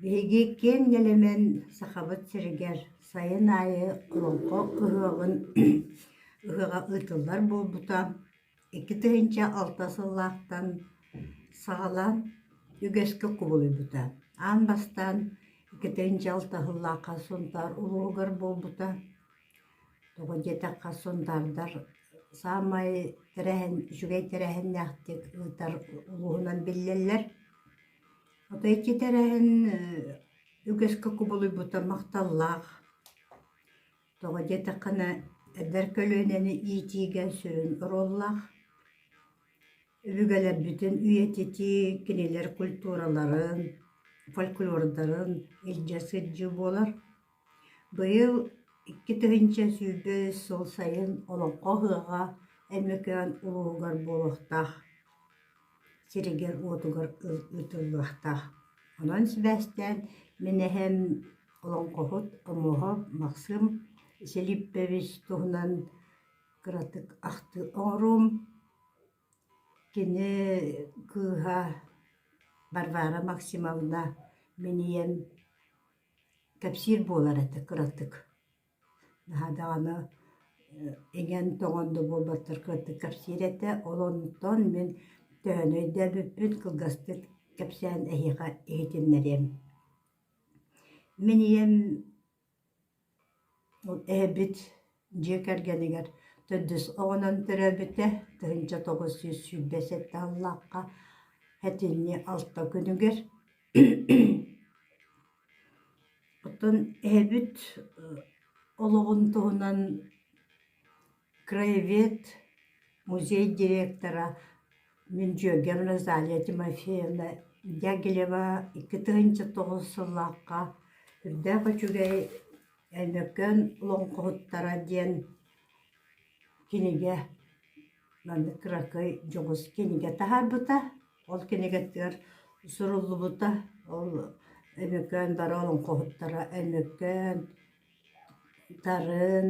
Биһиги киэҥ нэлэмэн Сахабыт сиригэр сайын аайы Олоҥхо ыһыаҕын ыһыаҕа ыытыллар буолбута икки тыһыынча алта сыллаахтан саҕалаан үгэскэ кубулуйбута. Аан бастаан икки тыһыынча алта сыллаахха Сунтаар улууһугар буолбута. Тоҕо диэтэххэ, сунтаардар саамай тэрээһин, үчүгэй тэрээһиннээхтик ыытар улууһунан биллэллэр. Отой ити тэрээһин үгэскэ кубулуйбута махталлаах. Тоҕо диэтэххинэ, эдэр көлүөнэни иитиигэ сүрүн оруоллаах. Өбүгэлэрбитин үйэтитии кинилэр культураларын, фольклордарын илдьэ сылдьыы буолар. Быйыл икки тыһыынча сүүрбэ үс сыл сайын Олоҥхо ыһыаҕа Өймөкөөн улууһугар буолуохтаах сиригэр-уотугар ыытыллыахтаах. Онон сибээстээн мин эһэм олоҥхоһут, омоһоп Максым Силиппович туһунан кыратык ахтыы оҥоруум. Кини кыыһа Варвара Максимовна, минийэм Кэпсиир буолар этэ кыратык. Наһаа даҕаны иҥэн-тоҥон да буолбаттар кыратык кэпсиир этэ. Ол оннуттан мин төһөнү өйдөөбүппүн кылгастык кэпсээн эһиэхэ иһитиннэриэм. Мин ийэм Эһэбит дьиэ кэргэнигэр төрдүс оҕонон төрөөбүтэ, тыһыынча тоҕус жүз сүүрбэ сэттэ сыллаахха этинни алта күнүгэр. Оттон эһэбит олоҕун туһунан краевед музей директора Миндьүөгэп Назалия Тимофеевна Дягилева икки тыһыынча тоҕус сыллаахха Үрдээх үчүгэй Өймөкөөн олоҥхоһуттара диэн кинигэ манна кыракый дьоҕус кинигэ таһаарбыта. Ол кинигэтигэр суруллубута. Ол Өймөкөөн бары олоҥхоһуттара Өймөкөөн Тарын,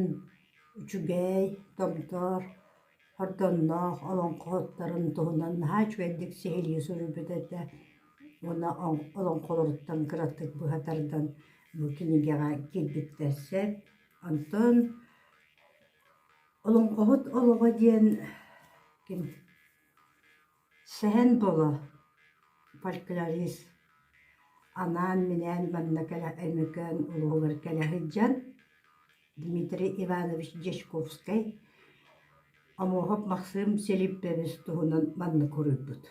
үчүгэй, Томтор, Ордонноох олоҥхоһуттарын туһунан наһаа үчүгэйдик сиһилии суруйбут этэ уонна олоҥхолоруттан кыратык быһа тардан бу кинигэҕэ киирбиттэрсэр. Онтон «Олоҥхоһут олоҕо» диэн ким Сэһэн Боло, фольклорист, анаан-минээн манна кэлэ Өймөкөөн улууһугар кэлэ сылдьан Дмитрий Иванович Дьячковскай, Омоһоп Максым Селиппэбис туһунан манна хоруйбут.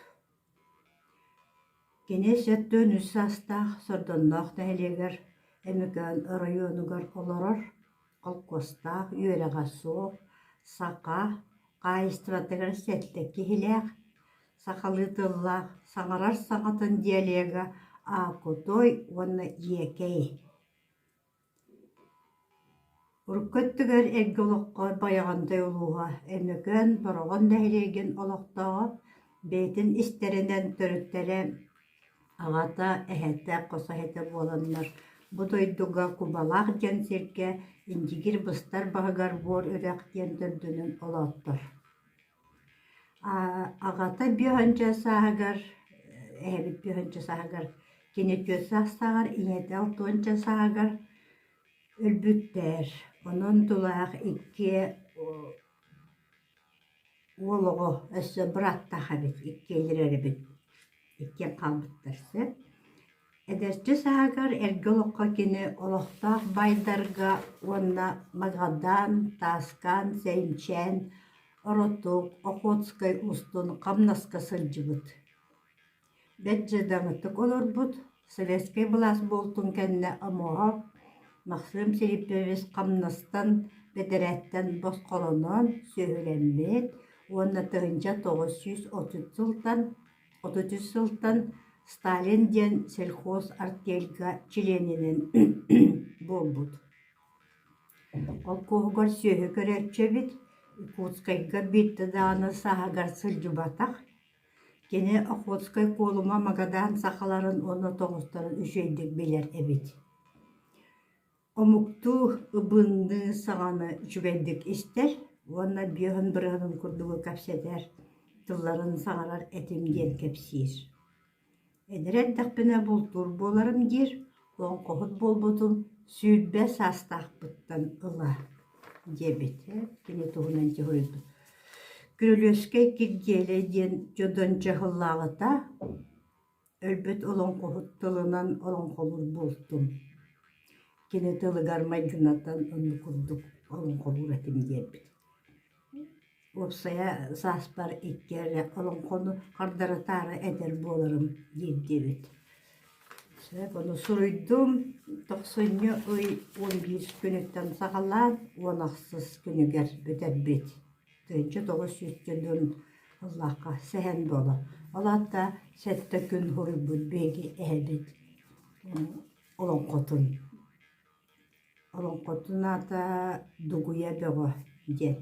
Кини сэттэ үс саастаах Сордонноох нэһилиэгэр Өймөкөөн оройуонугар олорор холкуостаах, үөрэҕэ суох, саха хаһаайыстыбатыгар сэттэ киһилээх, сахалыы тыллаах, саҥарар саҥатын диалега аакутой уонна иэкэй. Урукку өттүгэр эргэ олоххо Байаҕантай улууһа, Өймөкөөн, Бороҕон нэһилиэгин олохтооҕо, бэйэтин истэринэн төрүттэрэ Аҕата, эһэтэ, хос эһэтэ буоланнар, бу дойдуга Кубалаах диэн сиргэ Индигир быстар баһыгар Буор Үрэх диэн дойдунан олооттор. Аҕата биэһүнчэ сааһыгар, эһэбит биэһүнчэ сааһыгар, кини түөрт саастааҕар, ийэтэ алтыһыынча сааһыгар өлбүттэр. Онон тулаах икки Уол оҕо, өссө бырааттаах эбит, иккиэлэр эрэбит, иккиэн хаалбыттар сөп. Эдэрчи сааһыгар эргэ олоххо кини олохтоох баайдарга уонна магадаан, тааскаан, сэйимчээн, оротук, охотскай устун хамнаска сылдьыбыт Бэрт дьадаҥытык олорбут, советскай былаас буолтун кэннэ омоҕо Максым Филиппович хамнастан, бэдэрээттэн босхолоноон сүөһүлэммит уонна тыһыынча тоҕус сүүс отут сылтан отут үс сылтан Сталин диэн сельхозартельга чилиэнинэн буолбут. Холкуоһугар сүөһү көрөөччү эбит, Якутскайга биирдэ даҕаны сааһыгар сылдьыбатах Кини Охотскай Куолума Магадаан сахаларын уонна тоҕустарын үчүгэйдик билэр эбит омуктуу ыбынныы саҥаны үчүгэйдик истэр уонна биоһун бырыһытын курдугу кэпсэтэр тылларын саҥарар этим диэн кэпсиир Эдэр эрдэхпинэ бултуур буоларым диир, лоҥхоһут буолбутум сүүрбэ саастаахпыттан ыла диэбит. Кини туһунан дьэ суруйбут. Күрөлүөскэй Киргиэлэй диэн дьодон дьаһаллаабыта. Өлбүт олоҥхоһут тылынан олоҥхолуур буолтум. Кини тылыгар майгынатан оннук курдук олоҥхолуур этим диэрбит. Уопсайа сааспар икки эрэ олоҥхону хардарытаары эдэр буоларым диирдиибит. Ону суруйдум, тохсунньу ый уон биир күнүттэн саҕалаан уон ахсыс күнүгэр бүтэрбит. Тыһыынча тоҕус сүүс километр сыллаахха сэһэн буолар. Ол аата сэттэ күн суруйбут биһиги эһэбит олоҥхотун. Олоҥхотун аата Дугуйа бөҕө диэн.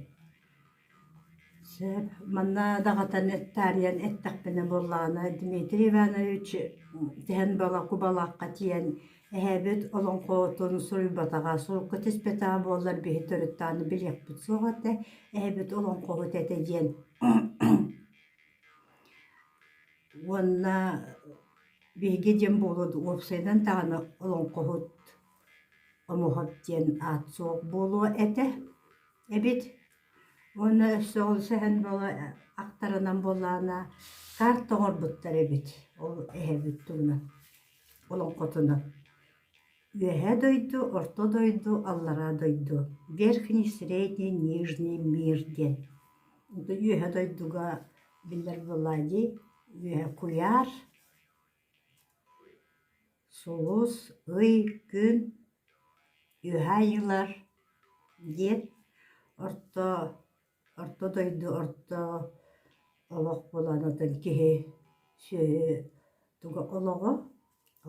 Сөп, манна даҕатан таарыйан эттэхпинэ буоллаҕына Дмитрий Иванович тэһэн балаакка тиийэн эһээбит олоҥхотун суруйбатаҕа, сурукка түспэтэҕэ буоллар биһи төрүттэҕинэ билиэхпит суох этэ, эһээбит олоҥхоһут этэ диэн. Уонна Биһиги диэн буолуо дуу, уопсайынан даҕаны олоҥхоһут, омоһот диэн аат суох буолуо этэ эбит. Уонна өссө олус эһэн буола ахтарынан буоллаҕына карта оҥорбуттар эбит ол эһэбит туһунан олоҥхотунан. Үөһэ дойду, орто дойду, аллараа дойду, верхний, средний, нижний мир диэн. Үөһэ дойдуга биллэр буоллаҕа дии Үөһэ куйаар, сулус, ый, күн, үөһэ айыылар диэн орто орто дойду орто олох буланатын киһи сүөһү олоҕо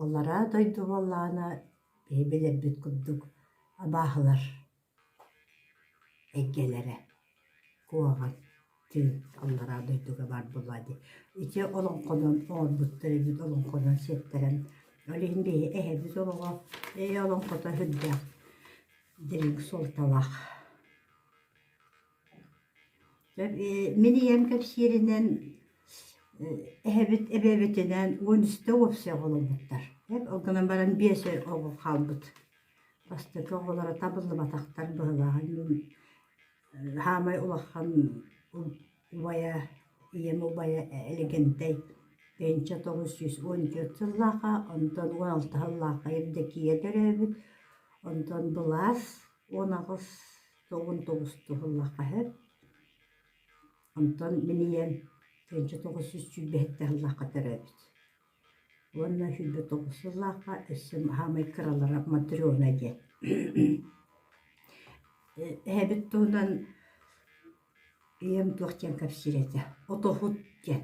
аллараа дойду буоллаҕына биһи билэрбит курдук абааһылар Эйгэлэрэ куһаҕан диэн аллараа дойдуга баар буолуо дии. Ити олоҥхонон оҥорбуттар эбит олоҥхонон сиэттэрэн. Ол иһин биһи эһэбит олоҕо ээ олоҥхото сүрдээх дириҥ суолталаах. Мин ийэм кэпсииринэн эһэбит эбэбитинээн Уонүстэ уопсай оҕоломмуттар. Ол гынан баран биэс эр оҕо хаалбыт. Бастакы оҕолоро табыллыбатахтар быһылааһын саамай улахан убайа, ийэм убайа Элэгэнтэй тыһыынча тоҕус сүүс уон түөрт сыллааҕа, онтон уон алта сыллааҕа Евдокия төрөөбүт, онтон былаас уон аҕыс тоҕун тоҕус туһаллаххаһыт. Онтон мин ийэм тыынча тоҕус сүүс сүүрбэһитте сыллаахха төрөөбүт. Уонна сүүрбэ тоҕус сыллаахха өссө хаамай кыралара Монтрёна диэн. Эһэбит туһунан ийэм туох диэн кэпсиир этэ. Отоһут диэн.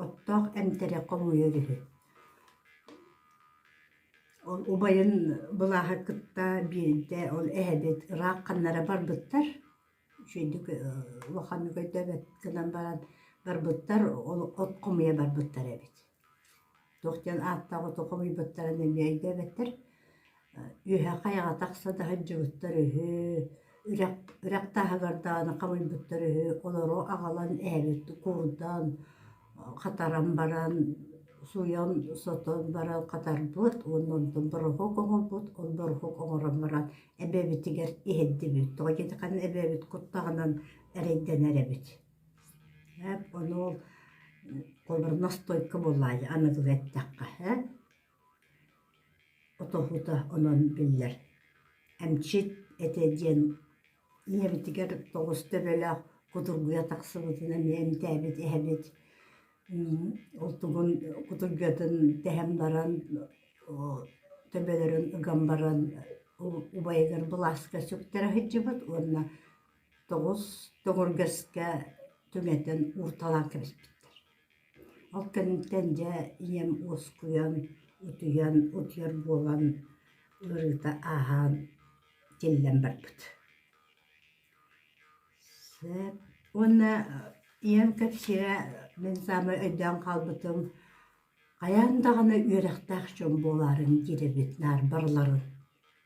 Оттоох эмтэрэ хомуйар үһү. Ол убайын былааһы кытта биирдэ ол эһэбит ыраах ханнара барбыттар, үчүгэйдик улаханнык өйдөөбөт гынан баран барбыттар, ол от хомуйа барбыттар эбит. Туох диэн ааттаах оту хомуйбуттарын эмиэ өйдөөбөттөр. Үөһэ хайаҕа тахса да сылдьыбыттар үһү. үрэх тааһыгар даҕаны халыйбыттар үһү олору аҕалан ээбит куурдаан хатаран баран сууйан сотон баран хатарбыт уонна онтон бороһуок оҥорбут ол бороһуок оҥорон баран эбэбитигэр иһэрдибит тоҕо диэтэххинэ эбэбит куттаҕынан эрэйдэнэр эбит эн ону ол холобура настойка буоллаҕа аныгылыы эттэххэ ээ Отоһута онон биллэр: «Эмчит этэ диэн ийэбитигэр тоҕус төбөлөөх кутургуйа тахсыбытын эмиэ эмтээбит иһэбит, ол тугун кутургатын тэһэн баран төбөлөрүн ыган баран убайыгар былааска сүктэрэ сылдьыбыт уонна тоҕус тоҥургэскэ түҥэтэн уурталаан кэбиспиттэр Ол кэнниттэн дьэ ийэм уоскуйан, утуйан, утуйар буолан ыарыыта ааһан тиллэн барбыт. Уонна ийэм кэпсиирэ мин саамай өйдөөн хаалбытым хайаан даҕаны үөрэхтээх дьон буолаарыҥ диирэбит наар барыларын.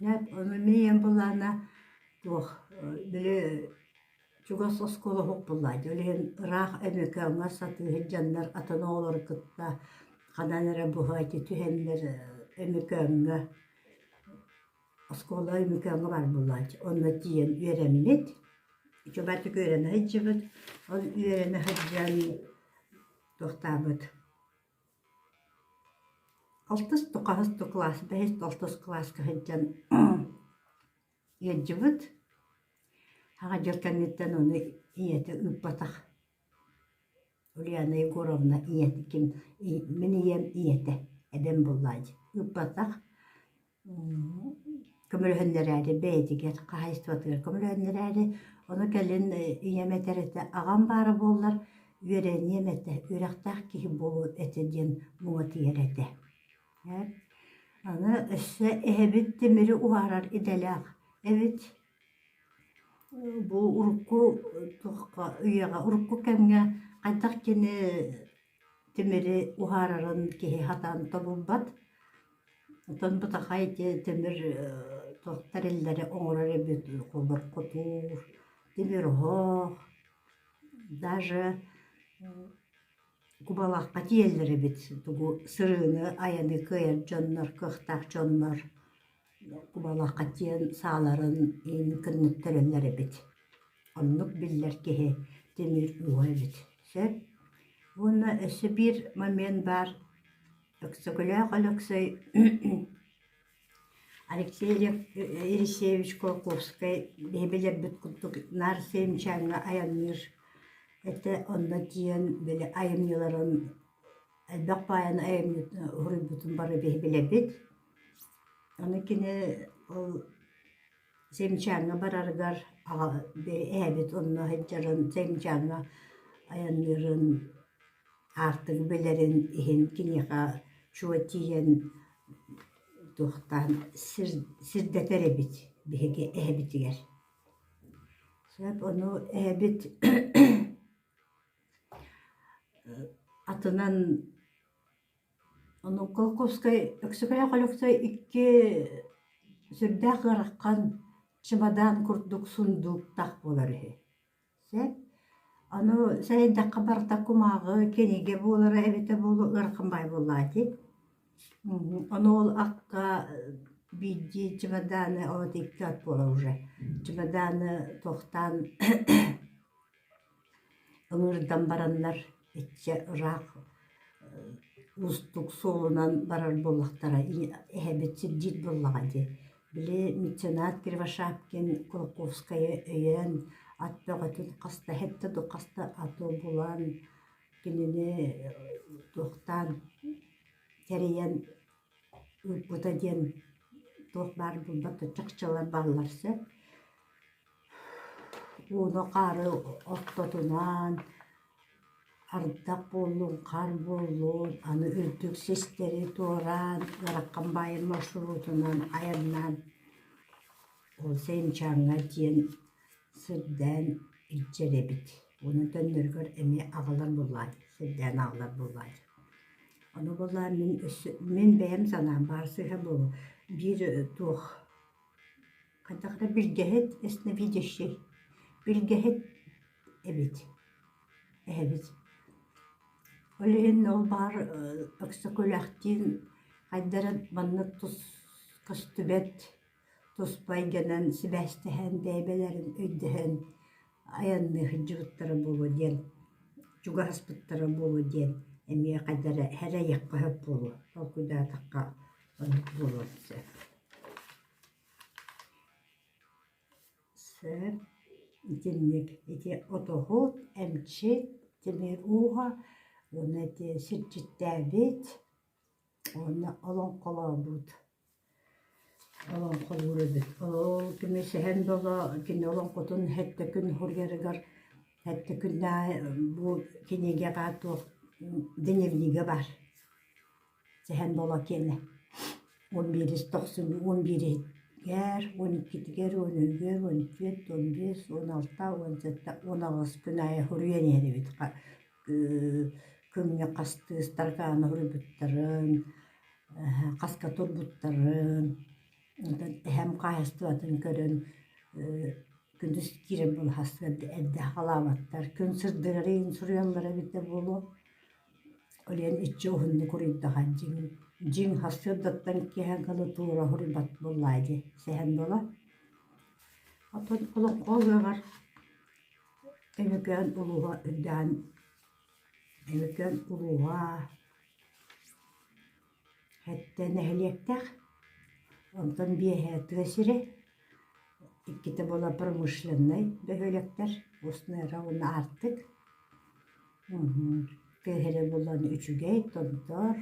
Дьэ, ону мин ийэм былаана туох били чугас оскуола уһукпуллааччы ол иһин ыраах Өмөкөөҥҥө сатыыһыт дьоннор атын оҕолору кытта ханан эрэ быһаччы түһэннэр Өмөкөөҥҥө оскуола Өмөкөөҥҥө барбыллааччы онно тиийэн үөрэммит чубарчык үөрэнэ сылдьыбыт ол үөрэнэ сылдьан туохтаабыт алтыс хас да кылаас бэһис да алтыс кылааска сылдьан Ыалдьыбыт. Аҕа дьыл кэнниттэн ону ийэтэ ыыппатах. Ульяна Егоровна ийэтэ ким мин ийэм ийэтэ эбэм буллааччы ыыппатах. Көмөлөһөннөрөөрү бэйэтигэр хаһаайыстыбатыгар көмөлөһөннөрөөрү ону кэлин ийэм этэр этэ аҕам баара буоллар үөрэниэм этэ үөрэхтээх киһи буолуо этэ диэн муҥутуйар этэ Аны өссө эһэбит тимири уһаарар идэлээх эбит. Бу урукку туохха үйэҕэ урукку кэмҥэ хайдах кини тимири уһаарарын киһи сатаан тобулбат. Оттон бытаххай ити тимир туох тэриллэри оҥорор эбит холбопкотуур, тимир оһох, даже Кубалахха тиийэллэр эбит тугу сырыыны айаны кыайар дьоннор кыахтаах дьоннор кубалахха тиийэн сааларын иһин кыннык төлөллөр эбит оннук биллэр киһи тимир ууһа эбит сөп уонна өссө биир момент баар Өксөкүлээх Өлөксөй Алексей Елисеевич Кулаковскай биһи билэрбит курдук наар Семчаҥҥа айанныыр этэ онно тиийэн били айымньыларын элбэх баайаны айымньытын уһуруйбутун бары биһи билэрбит. Аны кини ол Земчаҥҥа барарыгар эһэбит онно сылдьарын, Земчаҥҥа айанныырын, аартыгы билэрин иһин киниэхэ чуо тиийэн туохтаан сирдэтэр эбит биһиги эһэбитигэр. Ону эһэбит атынан Онуоха Кускай Өксөкөөх Өлөксөй икки сүрдээх ыарахан чымадаан курдук сундууктаах буолар үһү. Сөп? Аны сэрэйдэххэ барыта кумааҕы кинигэ буолара эбитэ буолуо ыарахан баай буоллаҕа ити. Ону ол акка биирдии чымадааны от икки от буолар уже чымадааны тохтаан Ылыырдан бараннар иччэ ыраах уустук суолунан барар буоллахтара эһэбит сирдиир буоллаҕа дии. Били меценат Кривошапкин Кулаковскайы өйөөн ат бөҕөтүн хаста эһэтэ да хаста аты булан кинини туохтаан тэрийэн ыыппыта диэн туох баар булбат чахчылар бааллар сөп. Ууну-хаары оттотунаан, ардах буоллун, хаар буоллун, аны үрдүк систэри туораан, Гараххан баайын маршрутунан айаннаан, ол Сэнчааҥҥа диэн сирдээн илдьэр эбит. Онон төннөрүгэр эмиэ аҕалар буоллаҕа, сирдээн аҕалар буоллаҕа. Ону буоллаҕа мин өссө мин бэйэм санаам баар сыыһа буолуо. Биир туох Хайдахтар билгэһит ясновидящий билгэһит эбит эһэбит ол иһин ол баар Өксөкүлээхтиин хайдары маннык тус көстүбэт туспа эйгэнэн сибээстэһэн бэйбэлэрин өйдөһөн айанныы сылдьыбыттара буолуо диэн чугаһаспыттара буолуо диэн эмиэ хайдары сэрэйиэххэ сөп буолуо толкуйдаатахха оннук буолуон сөп Сөп итинник ити отоһут эмчит тимир ууһа уонна ити сирдьиттээбит уонна олоҥхолообут олоҥхолуур эбит ол көмүсэһэн да оло кини олоҥхотун сэттэ күн суруйарыгар сэттэ күннээҕи бу кинигэҕэ туох дневнигэ бар Сэһэн буола киэнэ. Уон биирис тохсунньу уон бииригэр, уон иккитигэр, уон үһүгэр, уон үтүөт, уон биэс, уон алта, уон сэттэ, уон аҕыс күн аайы хоруйан иһэрибит көҥҥө хастыы ыстаркааны хоруйбуттарын, хаска турбуттарын, эһэм хаһаайыстыбатын көрөн күндүз киирэн былаһаастыгар эрдэ халаабаттар, күн сырдык арыйан суруйаллар эбитэ буолуо. Кэлэн иччи уһуннук уруйдаһар: «Дьиҥ, дьиҥ, сарсыардаттан икки эһэҥкэли туора уһуруйбат буоллаҕа дии, сэһэн буолуо» Оттон олоҥхо ыһыаҕар Өймөкөөн улууһа үрдээҕин Өймөкөөн улууһа Эттэ нэһилиэктэр, онтон биэһэ тыа сирэ, иккитэ буолан промышленнай бөһүөлэктэр, устнай ыра уонна аартык. Тыаһыры булан үчүгэй, томтор,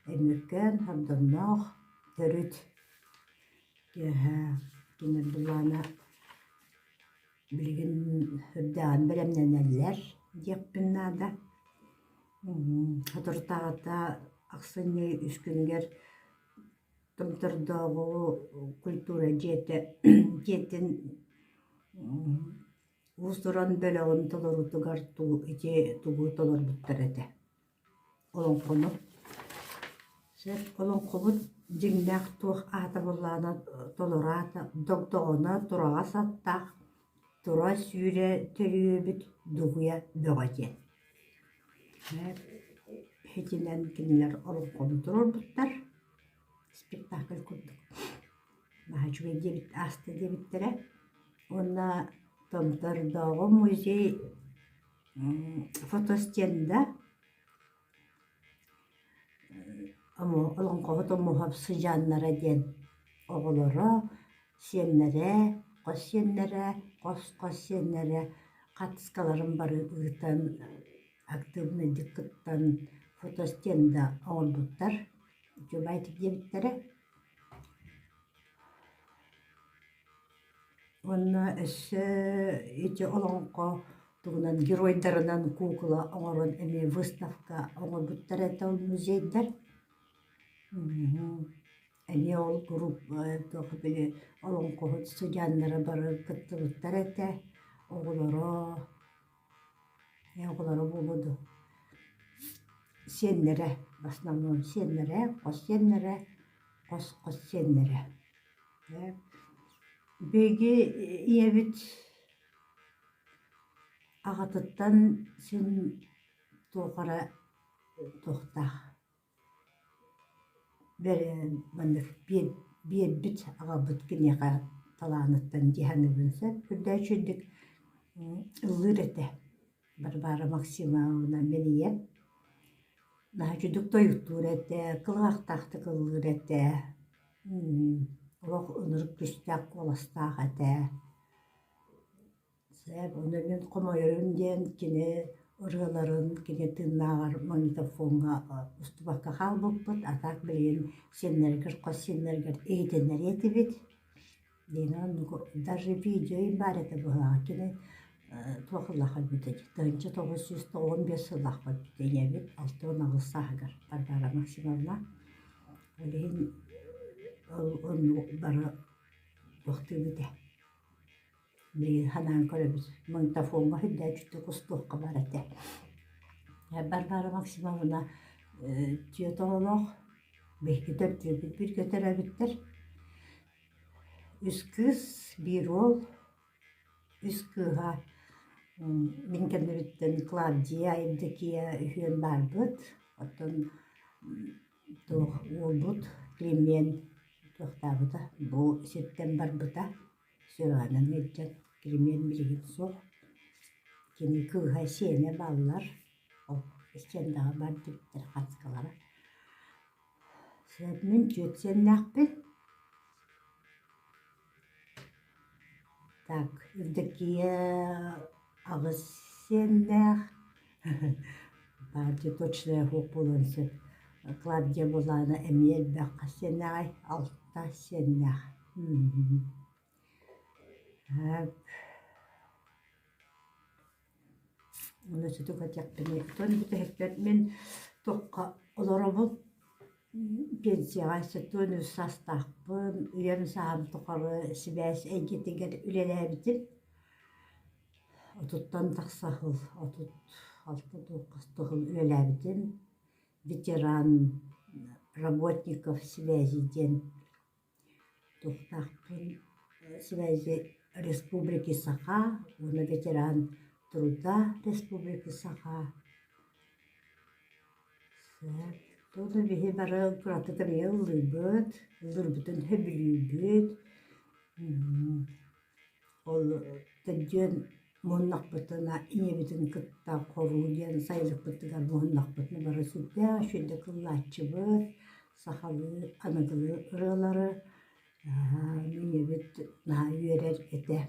Өймөкөөн, Гордоҥноох, төрүт. Тыаһа кинилэр былаана билигин үрдээҕин бэлэмнэнэллэр диэхпин наада. Соторутааҕыта ахсынньы үс күнүгэр Томтордооҕу культура дьиэтэ дьиэтин уус-уран бөлөҕүн толоруутугар тугу ити тугу толорбуттар этэ. Олоҥхону олоҥхобут дьиҥнээх туох аата буоллаҕына толороото, догдоҕоно, тураҕас аттаах Тура сүүрэ төрүөбүт дугуйа бөҕө диэн итинэн кинилэр олоҥхону туруорбуттар спектакль курдук наһаа үчүгэй диэбит ааста диэбиттэрэ уонна Томтордооҕу музей фотостенда Олоҥхобут умуһа сыдьааннара диэн оҕолоро, сиэннэрэ, хос сиэннэрэ, хос-хос сиэннэрэ хатыскаларын бары ыытан актыыбынайдык кыттан фотостенда оҥорбуттар, үчүгэйдик диэбиттэрэ. Уонна өссө ити олоҥхо тугунан геройдарынан куукула оҥорон эмиэ выставка оҥорбуттара этэ ол музейдар. Эмиэ ол группа туох били олоҥхоһут сыдьааннара баран кыттыбыттара этэ. Оҕолоро Ээ олоро буолуо дуо сиэннэрэ основном сиэннэрэ хос сиэннэрэ хос хос сиэннэрэ ээ биһиги ийэбит аҕатыттан син туох эрэ туохтаах Бэрин маннык биэрбит аҕабыт киниэхэ талааныттан дьиһаныбын сөп үрдөөччүдүк ыллыыр этэ. Барбара Максимовна минийэн наһаччыдык тойуктуур этэ, кылаахтаахтык ыллыыр этэ, олох ынырык түстээх куоластаах этэ. Сээп уонна мин хомойорум диэн кини ырыаларын кини тыыннааҕар магнитофоҥҥа устубакка хаалбыппыт, а так билигин сиэннэригэр, хос сиэннэригэр иһитиннэриэ этибит. Дина оннук даже видео баар этэ быһааҕа кини туох ыллаах эбитэй тыһыынча тоҕус сүүс тоҕуон биэс сыллаахпыт ийэбит алта уон аҕыс сааһыгар Варвара Максимовна ол иһин ол оннук бары тохтуубут ээ Билигин санаан көрөбүт, магнитофоҥҥа үрдээччитэ кустуохха баар этэ. Барбара Максимовна э тетолоох, биһикитэр дьиэбит бүргөтөрөбүттэр. Үс кыыс, биир уол, үс кыыһа мин кэннибиттэн Клавдия, Евдокия үһүөн баарбыт. Оттон туох уолбут Климэн туохтаабыта, бу сиртэн барбыта. Сыраанан илдьэн кириниэн билигин суох. Кини кыыһа сиэнэ бааллар, ол иккиэн даҕа бар диэбиттэр хатыкалара. Мин түөрт сиэннээхпин. Так, Евдокия аҕыс сиэннээх. Баалдьа точная оһуох буолуон сөп. Клавдия Булана эмиэ элбэххэ сиэннээҕий, алта сиэннээх. Аны сүтүк этиэхпиний, оттон бүтэһиккэр мин туохха олоробун? Пенсияҕа сытыан үс саастаахпын, үйэм сааһым тухары сибээс эйгэтигэр үлэлээбитим. Отуттан тахса сыл отут алта хас да сыл үлэлээбитим. Ветеран, Работников связи диэн туохтаахпын связи республики Саха уонна ветеран труда республики Саха. Туону биһи бары кыратык ыллыырбыт, ыллыырбытын сөбүлүүрбүт. Ол төрдүөн мууннахпытына ийэбитин кытта хоруу диэн сайылыкпытыгар муһуннахпытына бары сүрдээх үчүгэйдик ыллааччыбыт, сахалыы, аныгылыы ырыалары ийэбит наһаа үөрэр этэ.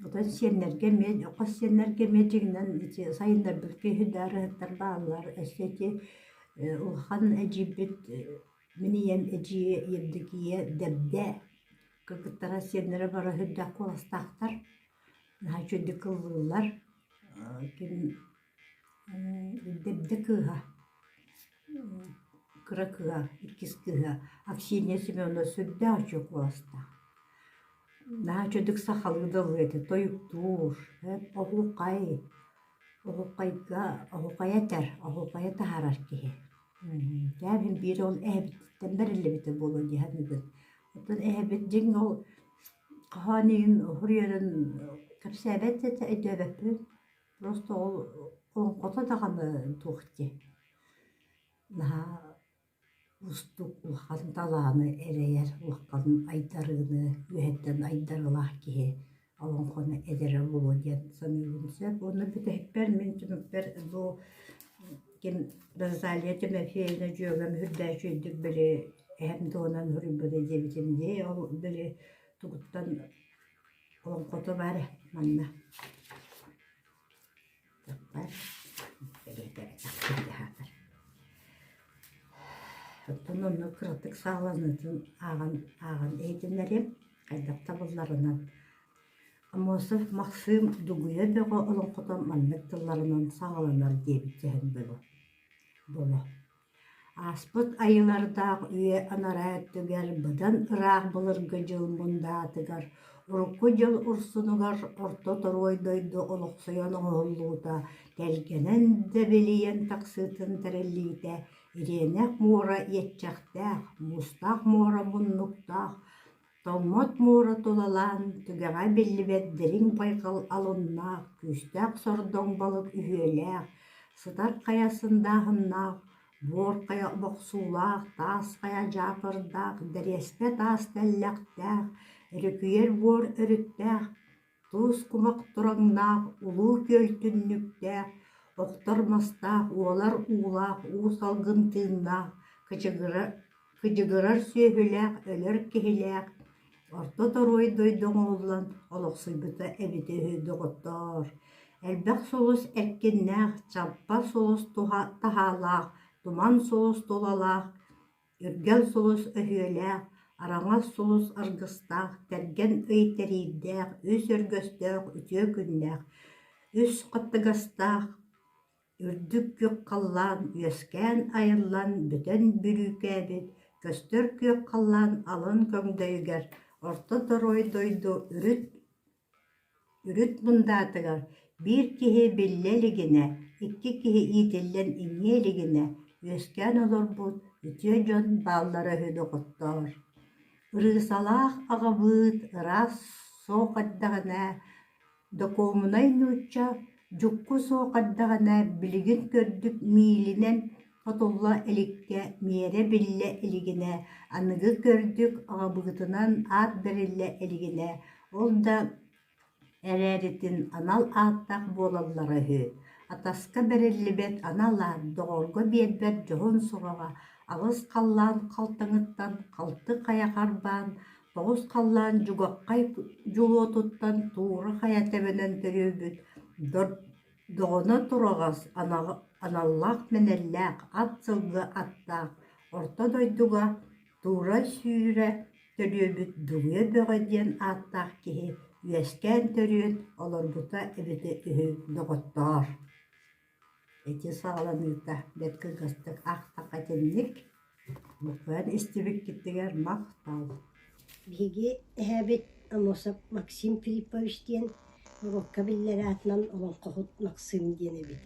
Оттон сиэннэргэ эмиэ, хос сиэннэргэ эмиэ дьиҥинэн сайыннарбыт киһи да ырыаттар бааллар, өссө ити улахан эдьиийбит Мин ийэм эдьиийэ Евдокия Дэбдэ кыргыттара сиэннэрэ бара сырдах куоластаахтар наһаа үчүгэйдик кыллыыллар ким Дэбдэ кыыһа кыра кыыһа иккис кыыһа Аксинья Семеновна сүрдээх үчүгэй куоластаах наһаа үчүгэй сахалыы да ылыа этэ тойуктуур оһуохай оһуохайга оһуохай этэр оһуохайы таһаарар киһи Кээбин биир ол эһэбититтэн бэриллибитэ буолуо дии саныыбын. Оттон эһэбит дьиҥ ол хоһоон иһин уһур үөрэн кэпсээбэт этэ өйдөөбөппүн. Просто ол оҥхото даҕаны туох дии. Наһаа уустук улахан талааны эрэйэр, улахан айдарыыны, үөһэттэн айдарыылаах киһи. олоҥхону эдэрэ буолуо диэн саныыбын сөп уонна бүтэһикпэр мин түмүкпэр бу ким Розалия Тимофеевна дьүөгэм үрдээччи үрдүк били эһэм туһунан суруйбута диэбитим дии ол били тугуттан олоҥхото баар манна Оттон онно кыратык сааланыытын ааҕан ааҕан иһитиннэриэм хайдах табылларынан. Амосов Максым Дугуйа бөҕө олоҥхото маннык тылларынан саҕаланар диэбит сэһэн буолуо. Ааспыт айанардаах үйэ анараа өттүгэр быдан ыраах былыргы дьыл мундаатыгар урукку дьыл урсунугар орто торуой дойду олохсуйан оҥоһуллуута тэлгэнэн дэбилийэн тахсыытын тэриллиитэ Ириэнэх муора иэччэхтээх, муустаах муора муннуктаах Томмот муора тулалаан, түгэҕэ биллибэт дириҥ байҕал алоннаах, күүстээх сордоҥ балык үһүөлээх, сытар хайа сындааһыннаах, буор хайа бохсуулаах, таас хайа дьаакырдаах, дэриэспэ таас тэллэхтээх, өрүкүйэр буор өрүттээх, Тус кумах тураҥнаах, улуу күөл түннүктээх, охтор мастаах, уолар уулаах, уу салгын тыыннаах, кыдьыгырар, кыдьыгырар сүөһүлээх, өлөр киһилээх, орто торуой дойду оҥоһуллан олохсуйбута эбитэ үһү доҕоттоор. Элбэх сулус эркиннээх, чампа сулус туһа таһаалаах, туман сулус тулалаах, Үргэл сулус өһүөлээх, араҥас сулус аргыстаах, тэргэн ый тэриирдээх, үс өргөстөөх, үтүө күннээх, үс хаттыгастаах үрдүк күөх халлаан үөскээн айыллан бүтэн бүрүүкээбит көстөр күөх халлаан алын көҥдөйүгэр орто торуой дойду үрүт Үрүт Бундаатыгар биир киһи биллэ илигинэ, икки киһи иитиллэн иҥиэ илигинэ үөскээн олорбут үтүө дьон бааллара үһү доҕоттоор, ырыысалаах аҕабыыт ыраас суох эрдэҕинэ Докуомунай нуучча Дьукку суох эрдэҕинэ билигин көрдүк миилинэн отулла иликкэ миэрэ биллэ илигинэ аныгы көрдүк аҕабыытынан аат бэриллэ илигинэ ол да эрээритин анал ааттаах буолаллара үһү. Атаска бэриллибэт анал аат доҕорго биэрбэт дьоһун сураҕа аҕыс халлаан халтаҥыттан халты хайа харбаан Оҕус халлаан дьугаҕхай дьулуотуттан туура хайа тэбэнэн төрүөбүт доҕоно тураҕас аналлаах-мэнэллээх ат сылгы аттаах орто дойдуга туура-сүүрэ төрүөбүт Дугуйа Бөҕө диэн ааттаах киһи үөскээн-төрүөн олорбута эбитэ үһү доҕоттоор Ити саҕаланыыта бэрт кылгастык аахтахха итинник, буквуйан истибиккитигэр махтал Биһиги эһээбит Амосов Максим Филиппович диэн уруокка биллэр аатынан Олоҥхоһут Максым диэн эбит.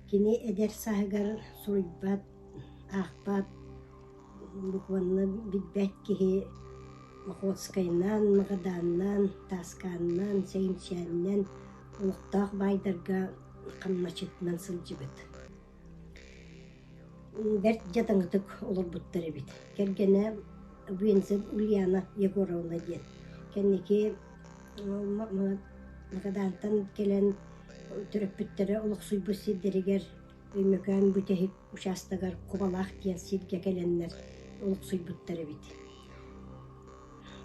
Кини эдэр сааһыгар суруйбат, аахпат Буквально билбэт киһи Охотскайнаан, Магадааннаан, Тааскааннаан, Сөймсээннээн олохтоох баайдарга хамначчытынан сылдьыбыт. Бэрт дьадаҥытык олорбуттар эбит. Кэргэнэ Вензель Ульяна Егоровна диэн. Кэнники Магадаантан кэлэн төрөппүттэрэ олохсуйбут сирдэригэр Өймөкөөн бүтэһик учаастагар Кубалаах диэн сиргэ кэлэннэр олохсуйбуттар эбит.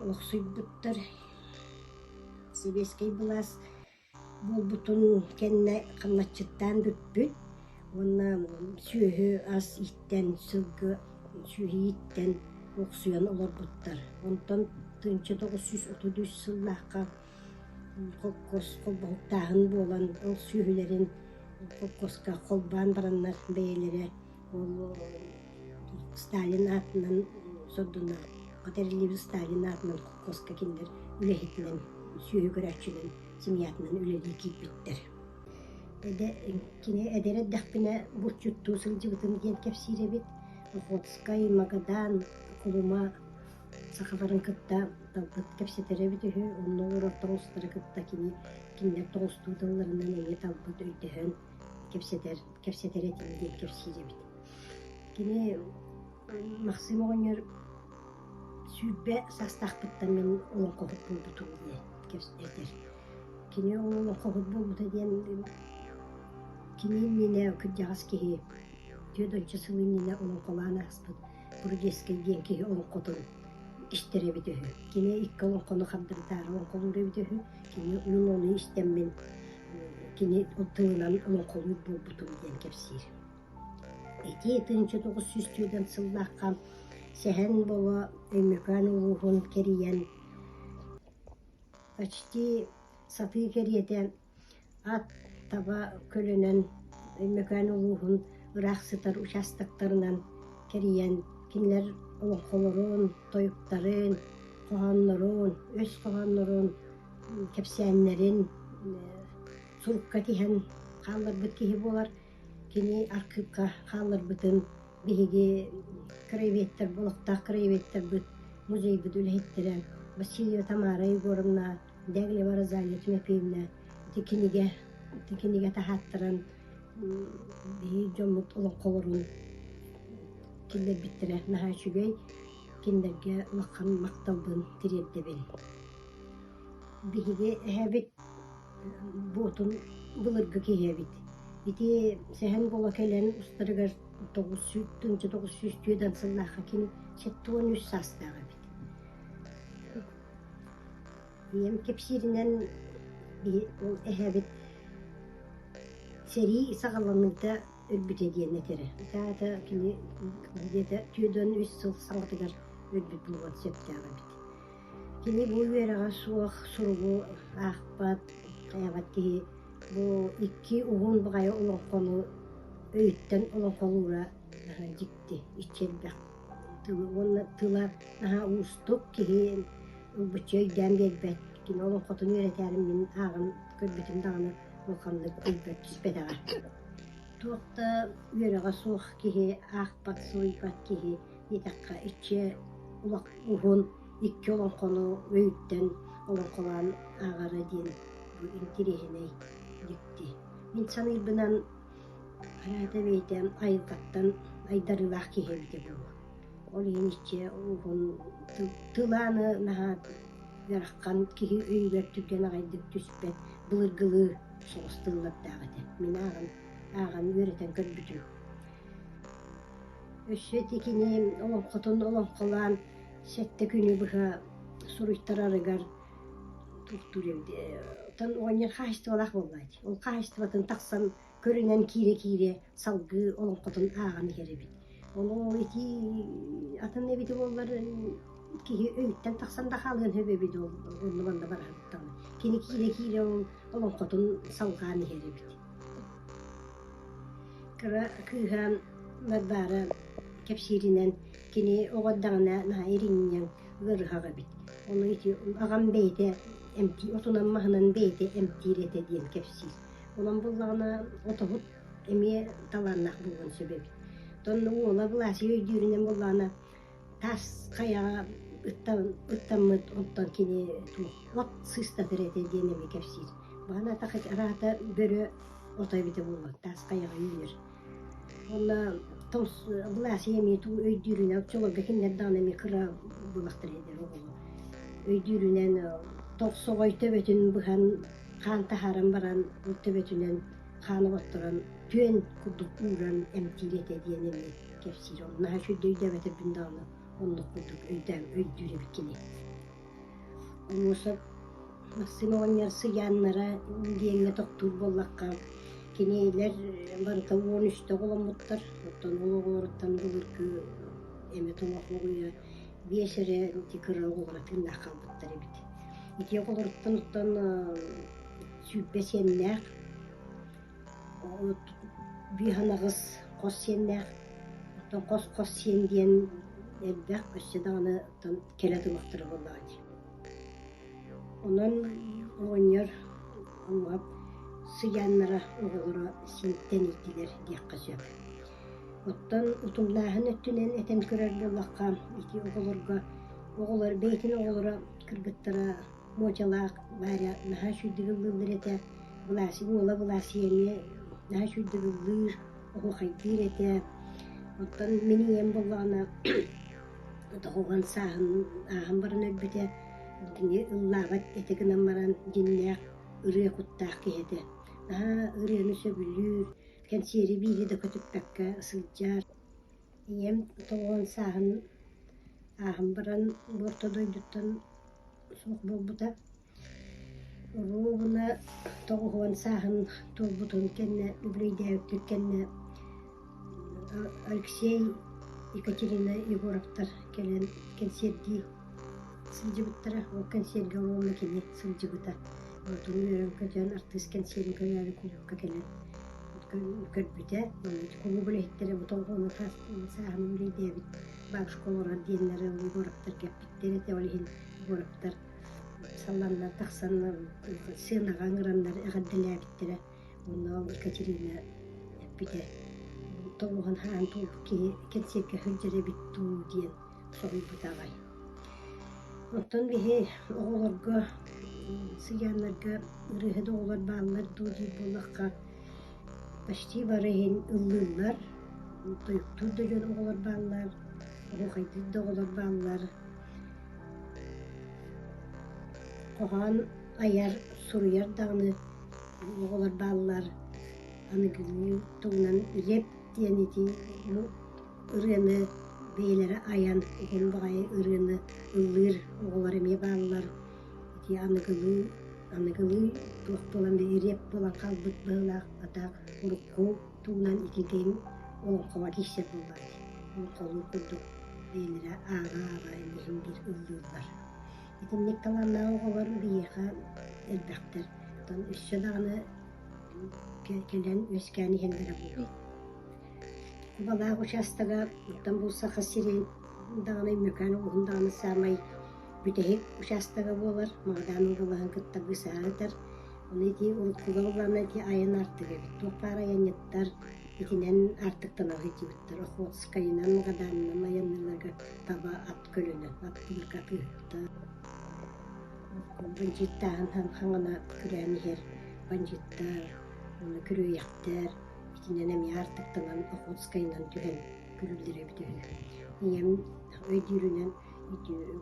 Олохсуйбуттар сэбиэскэй былаас буолбутун кэннэ хамначчыттаан бүппүт уонна сүөһү ас ииттэн, сылгы сүөһү ииттэн олохсуйан олорбуттар. Онтон тыһыынча тоҕус сүүс отuz үс сыллаахха холкуостааһын буолан ол сүөһүлэрин холкуоска холбоон бараннар бэйэлэрэ ол Сталин аатынан сордуна Катеринабель Сталин аатынан холкуоска кинилэр үлэһитинэн сүөһү көрөөччүнэн семьятынан үлэлии киирбиттэр кини эдэр эрдэхпинэ булчуттуу сылдьыбытым диэн кэпсиир эбит Охотскай Магадан Кулума Сахаларын кытта талбыт кэпсэтэрэбит үһү, онно олорортор устары кытта кини кинилэр тоҕустуу тылларынан эмиэ талбыт өйдөһөн кэпсэтэр, кэпсэтэр этим диэн кэпсиир эбит. Кини Максим оҕонньор сүүрбэ саастаахпыттан мин олоҥхоһут буолбутум диэн кэпсэтэр. Кини олоҥхоһут буолбута диэн кини иннинэ кырдьаҕас киһи түөрт ончу сыл иннинэ олоҥхолоон ааспыт Бургесскин диэн киһи олоҥхотун истэр эбит үһү. Кини икки олоҥхону хардырытаары олоҥхолуур эбит үһү. Кини мин ону истэммин кини ол тылынан олоҥхолуур буолбутум диэн кэпсиир. Ити тыһыынча тоҕус сүүс түөрт сыллаахха Сэһэн Бобо Өймөкөөн улууһун кэрийэн почти сатыы кэриэтэ Ат таба көлөнөн Өймөкөөн улууһун ыраах сытар учаастактарынан кэрийэн кинилэр олоҥхолорун, тойуктарын, хоһооннорун, өс хоһооннорун, кэпсээннэрин сурукка тиһэн хаалларбыт киһи буолар. Кини архыыпка хаалларбытын биһиги краеведтарбыт, олохтоох краеведтарбыт, музейбыт үлэһиттэрэ Васильева Тамара Егоровна Дьэ Глебора Анна Тимофеевна ити кинигэ ити кинигэ таһааттаран биир дьоммут олоҥхолорун киллэрбиттэрэ наһаа үчүгэй кинилэргэ улахан махталбын тириэрдэбин. Биһиги эһэбит буотун былыргы киһи эбит. Ити Сэһэн Голо кэлэн устарыгар тоҕус сүүс тыһыынча тоҕус сүүс түөрт сыллаахха кини сэттэ уон үс саастаах эбит. Ийэм кэпсииринэн эһэбит сэрии саҕаланыыта өлбүтэ диэн этэрэ. Ытаата кини дьиэтэ түөрт уон үс сыл саҥатыгар өлбүт буолуон сөптөөх эбит. Кини бу үөрэҕэ суох суругу аахпат, хайаабат киһи бу икки уһун баҕайы олоҥхону өйүттэн олоҥхолуура дьикти, иччи элбэх. уонна тыла наһаа уустук киһи ылбычча өйдөөн биэрбэт кини олоҥхотун үөрэтээрин мин ааҕан көрбүтүм даҕаны улаханнык билбэт түспэтэҕэ туох да үөрэҕэ суох киһи аахпат суруйбат киһи диэтэххэ иччи улах уһун икки олоҥхону өйүттэн олоҥхолоон ааҕара диэн бу интириэһинэй дьикти мин саныырбынан Араата бэйэтэ айылҕаттан айдарыылаах киһи эбитэ дуу. Ол иһин иччи тылааны наһаа ыарахан киһи өйүгэр түргэн аҕайдык түспэт былыргылыы соҕус тыллардаах этэ. Мин ааҕан ааҕан үөрэтэн көрбүтүм. Өссө ити кини олоҥхотун олоҥхолоон сэттэ күнү быһа суруйтарарыгар Оттон оҕонньор хаһаайыстыбалаах буоллаҕа дии. Ол хаһаайыстыбатын тахсан көрүнэн киирэ-киирэ салгыы олоҥхотун ааҕан иһэр эбит. Олоо итии атын эбит буоллар киһи өйүттэн тахсан да хаалыан сөп эбит ол онно-манна баран даҕаны. Кини киирэ-киирэ ол олоҥхотун салҕаан иһэр эбит. Кыра кыыһа Марбаара кэпсииринэн кини оҕо эрдэҕинэ наһаа иринньэҥ ыарыһах эбит. Ону ити аҕам бэйэтэ эмтии, отунан маһынан бэйэтэ эмтиир этэ диэн кэпсиир. Онон буллаҕына отоһут эмиэ талааннаах буолуон сөп эбит. Онно уола былаасыйа өйдүүрүнэн буллаҕына таас хайаҕа ыттан, ыттаммыт, онтон кини от сыыстатар этэ диэн эмиэ кэпсиир. Баҕана атах араата бөрө ото эбитэ буолуо, таас хайаҕа үүнэр. Уонна былаасыйа эмиэ туу өйдүүрүнэн оччолорго кинилэр даҕаны эмиэ кыра буолахтар ээ диир оҕолор. Өйдүүрүнэн тохсоҕой төбөтүн быһан хаан таһааран баран төбөтүнэн хаан оҕотторон түөн курдук ууран эмтиир этэ диэн эмиэ кэпсиир. Ол наһаа үчүгэй өйдөөбөтөрбүн даҕаны оннук курдук өйдөөн өйдүүр эбит кини Муса Максим оҕонньор сыйааннара диэҥҥэ тохтуур буоллахха, кинилэр панталон үстэ оҕоломмуттар, оттон ол оҕолоруттан былыргы эмэ тоҥох уоҕуйа биэс эрэ ити кыра оҕолоро тыыннаах хаалбыттар эбит. Ити оҕолоруттан оттон сүүрбэ сиэннээх Биһанаҕыс хос сиэннээх, оттон хос хос сиэн диэн элбэх, өссө даҕаны оттон кэлэ тумахтара буоллаҕа дии. Онон оҕонньор уҥуох сыйааннара оҕолоро синтэн итилэр диэххэ сөп. Оттон утумнааһын өттүнэн этэн көрөр буоллахха, ити оҕолорго, оҕолор, бэйэтин оҕолоро кыргыттара Муочалаах Варя наһаа сүрдүк ыллыыллар этэ, былаасык уола Былаасыйаны наһаа сүрдүк ыллыыр, оһуохайдыыр этэ. Оттон мин ийэм буоллаҕына дохуһан сааһын ааһан баран өлбүтэ, кини ыллаабат этэ гынан баран дьиннээх ырыа куттаах киһи этэ. Наһаа ырыаны сөбүлүүр, кэнсиэри биири да көтүппэккэ сылдьар. ийэм тоҕо уон сааһын ааһан баран бу орто дойдуттан суох буолбута уруу гына тоҕус уон сааһын туолбутун кэннэ үбүлүөйдээбиттэр кэннэ Алексей Екатерина Егоровтар кэлэн кэнсиэрдии сылдьыбыттара ол кэнсиэргэ уруогу кини сылдьыбыта отун үөрэн көтөөн артыыс кэнсиэрин көрөөрү куйуокка кэлэн көрбүтэ, кулуубу үлэһиттэрэ ботолҕону тас сааһын үлэйдээбит бабушка олорор диэннэри Егоровтар кэппиттэр этэ, ол иһин Егоровтар салланна тахсан сыанаҕа ыҥыраннар эҕэрдэлээбиттэрэ уонна ол Екатерина эппитэ толуһан хаһаан туох киһи кэнсиэркэ сылдьар эбит дуу диэн Соруйбута аҕай. Оттон биһи оҕолорго, сыйааннарга ырыаһыт оҕолор бааллар дуу диир буоллахха, почти бары иһин ыллыыллар. Тойуктуур да дьон оҕолор бааллар, оһуохайдыыр да оҕолор бааллар. Хоһоон айар, суруйар даҕаны оҕолор бааллар. Аныгы тугунан леп диэн итии ырыаны бэйэлэрэ айан уһун баҕайы ырыаны ыллыыр оҕолор эмиэ бааллар. Ити аныгылыы аныгылыы туох буолан рэп буолан хаалбыт быһыылаах хата урукку тугунан ититин олоҥхоҕо киирсэр буоллаҕа дии. Олоҥхолуур курдук бэйэлэрэ ааҕа-ааҕа эмиһин биир ыллыыллар. Итинник талааннаах оҕолор биһиэхэ элбэхтэр. Оттон өссө даҕаны кэлэн үөскээн иһэллэрэ буолуо. Кубалаах учаастага оттон бу Саха сирин даҕаны Өймөкөөн улууһун даҕаны саамай бүтэһик учаастага буолар. Магадаан уобалаһын кытта быысаһаатар. Ону ити урут Куба уобалана ити айан аартыга эбит. Туох баар айанньыттар итинэн аартыктанары иитибиттэр. Охотскайынан, Магадаанынан айанныыларга таба ат көлөнөн, ат быыкка атыыһыттар. Бандьыыттааһын хаҥана күрээн иһэр. Бандьыыттар, уонна күрүөйэхтэр. Итинэн эмиэ аартыктанан Охотскайынан түһэн күлүүллэрэбит үһү. Ийэм өйдүүрүнэн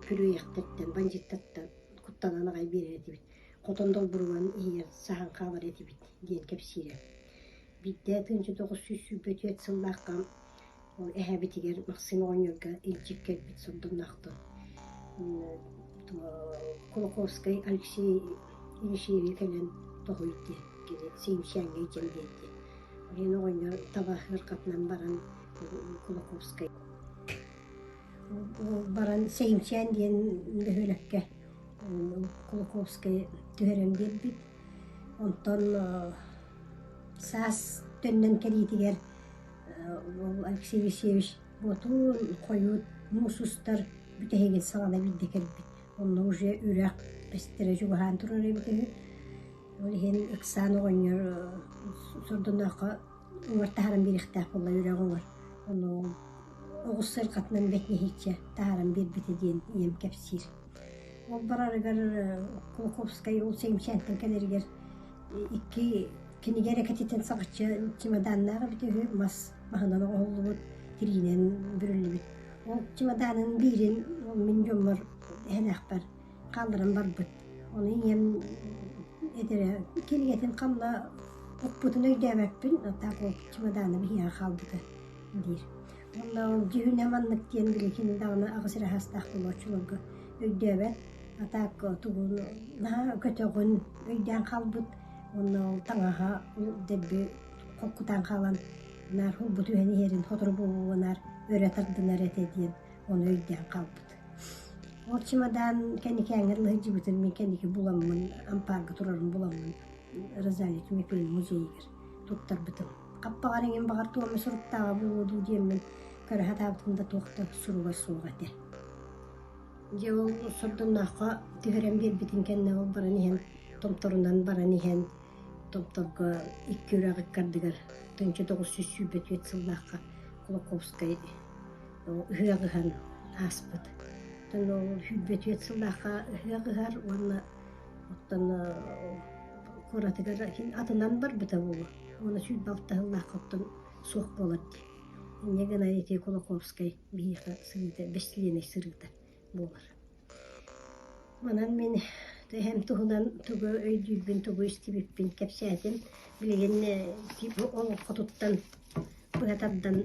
күрүөйэхтэртэн, бандьыыттартан куттанан аҕай биэрэр этибит. Хотон долбуруган иһигэр саһан хаалар этибит диэн кэпсиирэ. Биирдэ тыынча тоҕус сүүс сүүрбэ түөрт сыллаахха Ол эһэбитигэр Максим оҕонньорго илдьик кэлбит сордумнаахтар Кулаковскай Алексей Елисеевич кэлэн тоһуйд диэн кини Сиимсээҥҥэ илдьэн биэр диэн. Оройуон оҕонньор табаһыаркатынан баран Кулаковскай баран Сиимсээн диэн бөһүөлэккэ Кулаковскай түһэрэн биэрбит. Онтон саас төннөн кэлиитигэр Уол Алексей Алексеевич Боотуун хойут муус устар бүтэһигин саҕана илдьэ кэлбит. Онно уже үрэх бэстэрэ чугаһаан турар эбит үһү. Ол иһин ыксаан оҕонньор сордонооххо уҥар таһааран биэриэхтээх буолла үрэҕи Онно уол оҕус сайылҕатынан бэтнэһииччэ таһааран биэрбитэ диэн ийэм кэпсиир. Ол барарыгар Кулаковскай ол Сэмсээнтэн кэлэригэр икки Кинигэ эрэ кэтитин саҕаччы чемоданнаах эбит үһү, мас маһынан оҥоһуллубут, тириинэн бүрүллүбүт. Ол чемоданын биирин мин дьоммор эһэлээхпэр хаалларан барбыт. Ону ийэм эдэрэ кинигэтин ханна оппутун өйдөөбөппүн, так ол чемодана биһиэхэ хаалбыта диир. Уонна ол дьүһүнэ маннык диэн били кини даҕаны аҕыс эрэ саастаах болооччуларга өйдөөбөт. А так тугун наһаа көтөҕүн, өйдөөн хаалбыт Уонна ол таҥаһа дэлби кутан хаалан наар бу түһэн иһэрин сотору буолуонар өрө тардынар этэ диэн ону өйдөөн хаалбыт. Ол чемодан кэникээҥҥэр лыһыдьыбытын мин кэники буламмын ампаарга турарын буламмын Розалия Кимикулин музейыгар туттарбытым. Хаппаҕар иҥин баҕар туома суруктааҕа буолуо дуу диэммин көрө сатаабытым да туох да суруга суох этэ Дьэ ол сордоҥнооххо түһэрэн биэрбитин кэннэ ол баран иһэн томторунан баран иһэн томторго икки үрэх ыккардыгар тыһыынча тоҕус сүүс сүүрбэ түөрт сыллаахха Кулаковскай ыһыах ыһан ааспыт. Оттон ол сүүрбэ түөрт сыллаахха ыһыах ыһар уонна оттон куоратыгар атынан барбыта буолуо уонна сүүрбэ алта сыллаахха оттон суох буолар дии. Инньэ гына ити Кулаковскай Биһиэхэ сырыыта бэстилиэнэй сырыыта буолар. Онон мин эһэм туһунан тугу өйдүүрбүн, тугу истибиппин кэпсээтим. Билигин олоҥхотуттан быһа тардан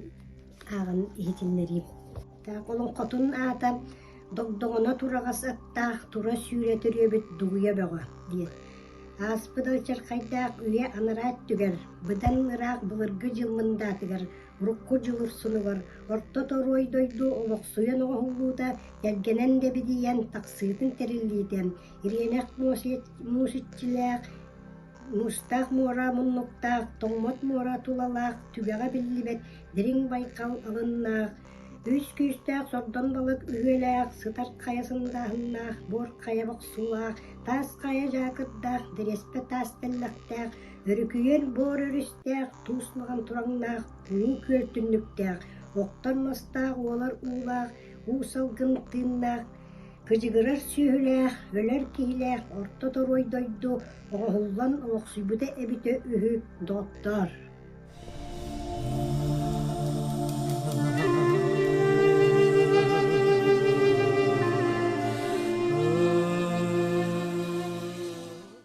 ааҕан иһитиннэриим. Таах олоҥхотун аата «Догдоҥоно тураҕас аттаах тура сүүрэ төрүөбүт дугуйа бөҕө» диэн. Ааспыт очеркайдаах үйэ анараа өттүгэр, быдан ыраах былыргы дьыл мындаатыгар урукку дьылыр сылыгар орто торуой дойду олохсуйан оҥоһуллуута кэргэнэн дэбидийэн тахсыытын тэриллиитэ ириэнэх муусиччилээх муустаах муора муннуктаах тоҥмот муора тулалаах түгэҕэ биллибэт дириҥ байкал алыннаах үс күүстээх сордон балык үһүөлээх сытар хайа сындааһыннаах буор хайа бохсуулаах таас хайа дьаакырдаах дэриэспэ таас тэллэхтээх Өрүкүйэр боор өрүстээх, туус лаҕан тураҥнаах, уу күөл түннүктээх, оттон мастаах уолар уулаах, уу салгын тыыннаах, кыдьыгырар сүөһүлээх, өлөр киһилээх орто торуой дойду оҕоһуллан олохсуйбута эбитэ үһү докторр